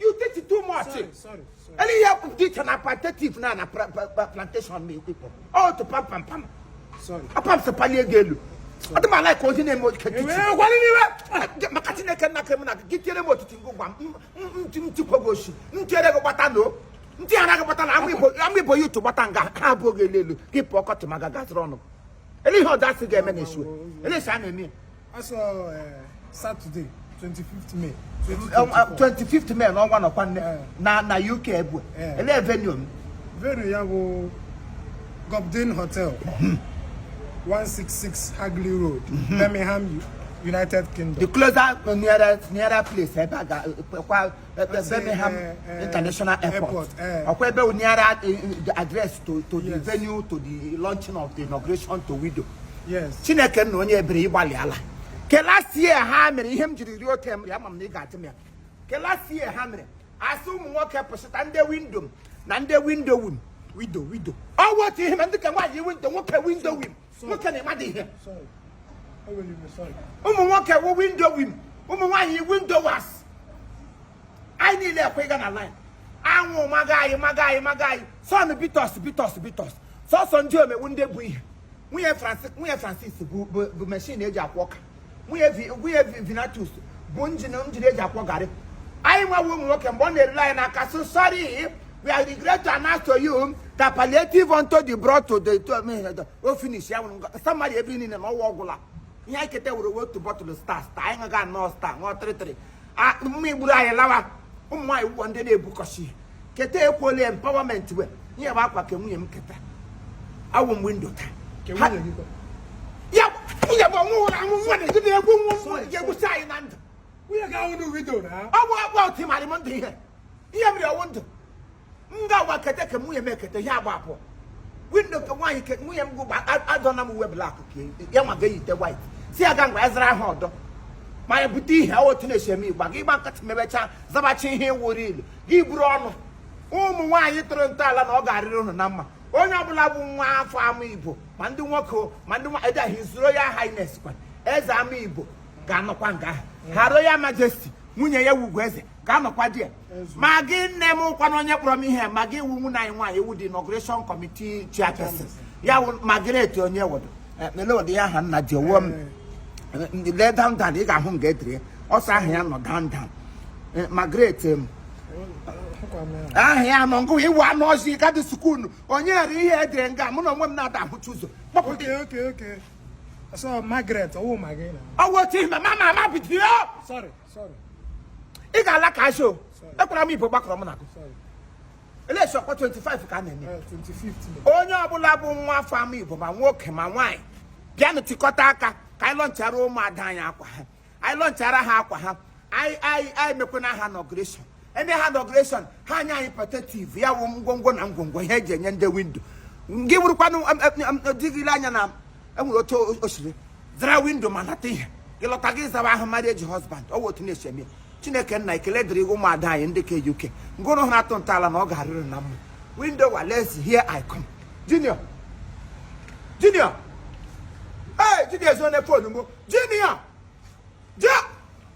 You take it too much. Sorry, sorry, sorry. Any year of ditch and apathic now na plantation me people. Oh, to pam pam pam. Sorry. A pam se palie gị elu. Ọ dị m ala ka onye na-eme oke kiti. Ee, gwara n'iwe. Maka Chineke nna ka m na gị tiere m otiti ngụ gwa m ntikwa gị oshi m tiere gị gbata n'o ndị ara gị gbata na Amaigbo ya utu gbata nga ha ebuo gị elu elu gị pụọ ọkọchị ma ga gaziri ọnụ ele ihe ọdasị ga-eme na esu ele esi a na-eme ya asọ eh, Saturday 25th May 25th um, uh, May n'ọnwa nọkwa nne eh. na na UK ebu eh. ele venue m venue ya bụ Cobden Hotel 166 hmm. Hagley Road mhm. Birmingham United Kingdom the closer nearer nearer place ebe a ga-ekwa Birmingham eh, eh, International Airport. Eh. Ọ kwa ebe ọ nearer the address to to the venue to the launching of the inauguration to widow. Yes. Chineke nna onye ebere ị gbalịala. Ke last year ha mere ihe m jiri rio tem ya ma m na ị ga-ajụ m ya. Ke last year ha mere a sị ụmụ nwoke pụsịta ndị windo m na ndị windo wim. Wido wido. Ọ wụ otu ihe ma ndị ke nwaanyị windo nwoke windo wim. nwoke na ịmadị ihe ụmụ nwoke wụ windo wim ụmụ nwaanyị windo was anyị niile ekwe ịga na line anwụ maga anyị maga anyị maga anyị sun beat us beat us beat us sọsọ ndị woman windo bu ihe nwunye Francis bu meshin eji akwọ ọka nwunye Vi- nwunye Vi- Vinatus bu njin njin eji akwọ garị anyị nwa wụ ụmụ nwoke mgbe ọ na-erule anyị n'aka so sorry we are regret to announce to you that palliative unto the brought to the to me the o finish ya wụrụ ngọ- somebody ebe niile na ọ wụ ọ gwụla ihe anyị keta were otu bottle star star anyị ṅụga aṅụ star ṅụọ three three mmai gburu anyị lawa ụmụ nwaanyị wụ ndị na-ebukọsi keta ekwuola empowerment we ihe bụ akwa ke nwunye m keta a wụ m windo taa ya nwunye bụ ọnwụ ụra anwụ nwa na-eji na-egwu nwa nwa ga-egbusi anyị na ndụ ọ bụ akwa otu ịmarị m ndụ ihe ihe mere ọ wụ ndụ m ga-agba kete ke nwunye m ekete ihe agba abụọ windo ke nwaanyị ke nwunye m gụgba adọna m uwe black ka ya nwa ga eyite white sị ya ga ngwa ezara ahụ ọdọ ma ya bute ihe otu na-esi eme ị gba gị gba nkịtị mebechaa zabacha ihe wụrụ ilu gị buru ụnụ ụmụ nwaanyị tụrụ ntọala na ọ ga-arịrị ụnụ na mma onye ọbụla bụ nwa afọ Amaigbo ma ndị nwoke ma ndị nwaanyị His Royal Highness kwa eze Amaigbo ga-anọkwa nga ahụ Her Royal Majesty nwunye ya wụ Ugoeze ga-anọkwa there ma gị nne m ukwu na onye kpọrọ m ihe ma gị ị wụ nwunye anyị nwaanyị ị wụ the inauguration committee chairperson ya wụ Margaret onye wodo mele ụdị ya aha nna ji owo m lee down down ị ga-ahụ m ga-ediri ya ọsọ aha ya nọ down down Eh, Margaret em, aha ya nọ ngụ ị wụ anụ ọzọ ị gadị sukulu o nwere ihe e dere nga mụ na onwe m na-ada ahụcha ụzọ kpọpụta Okay, okay, okay. So Margaret, oh my God. ọ wụ otu ihe ma ma ma ma bido Sorry. ị ga-ala ka asho ekwara m igbo gbakọrọ m na gụ election ọkwa 25 ka a na-eme eh, onye ọbụla bụ nwa afọ amaigbo ma nwoke ma nwaanyị bịanụ tikọta aka ka anyị lọnchara ụmụada anyị akwa ha anyị lọnchara ha akwa ha anyị mekwana ha inauguration eme ha inauguration ha anya anyị pọtetiv ya wụ ngwongwo na ngwongwo ihe eji enye ndị widow gị wụrụkwanụ di gị lee anya na enwere otu o siri zara widow ma nata ihe gị lọta gị zawa ahụ mmadụ eji husband ọ wụ otu na-esi eme chineke nna ekele dịrị ụmụada anyị ndị ka uk ngụrụ hụrụ atụ ntọala na ọ ga-arịrị na mma widow wales here i come junior junior ee junior ezone phone m o junior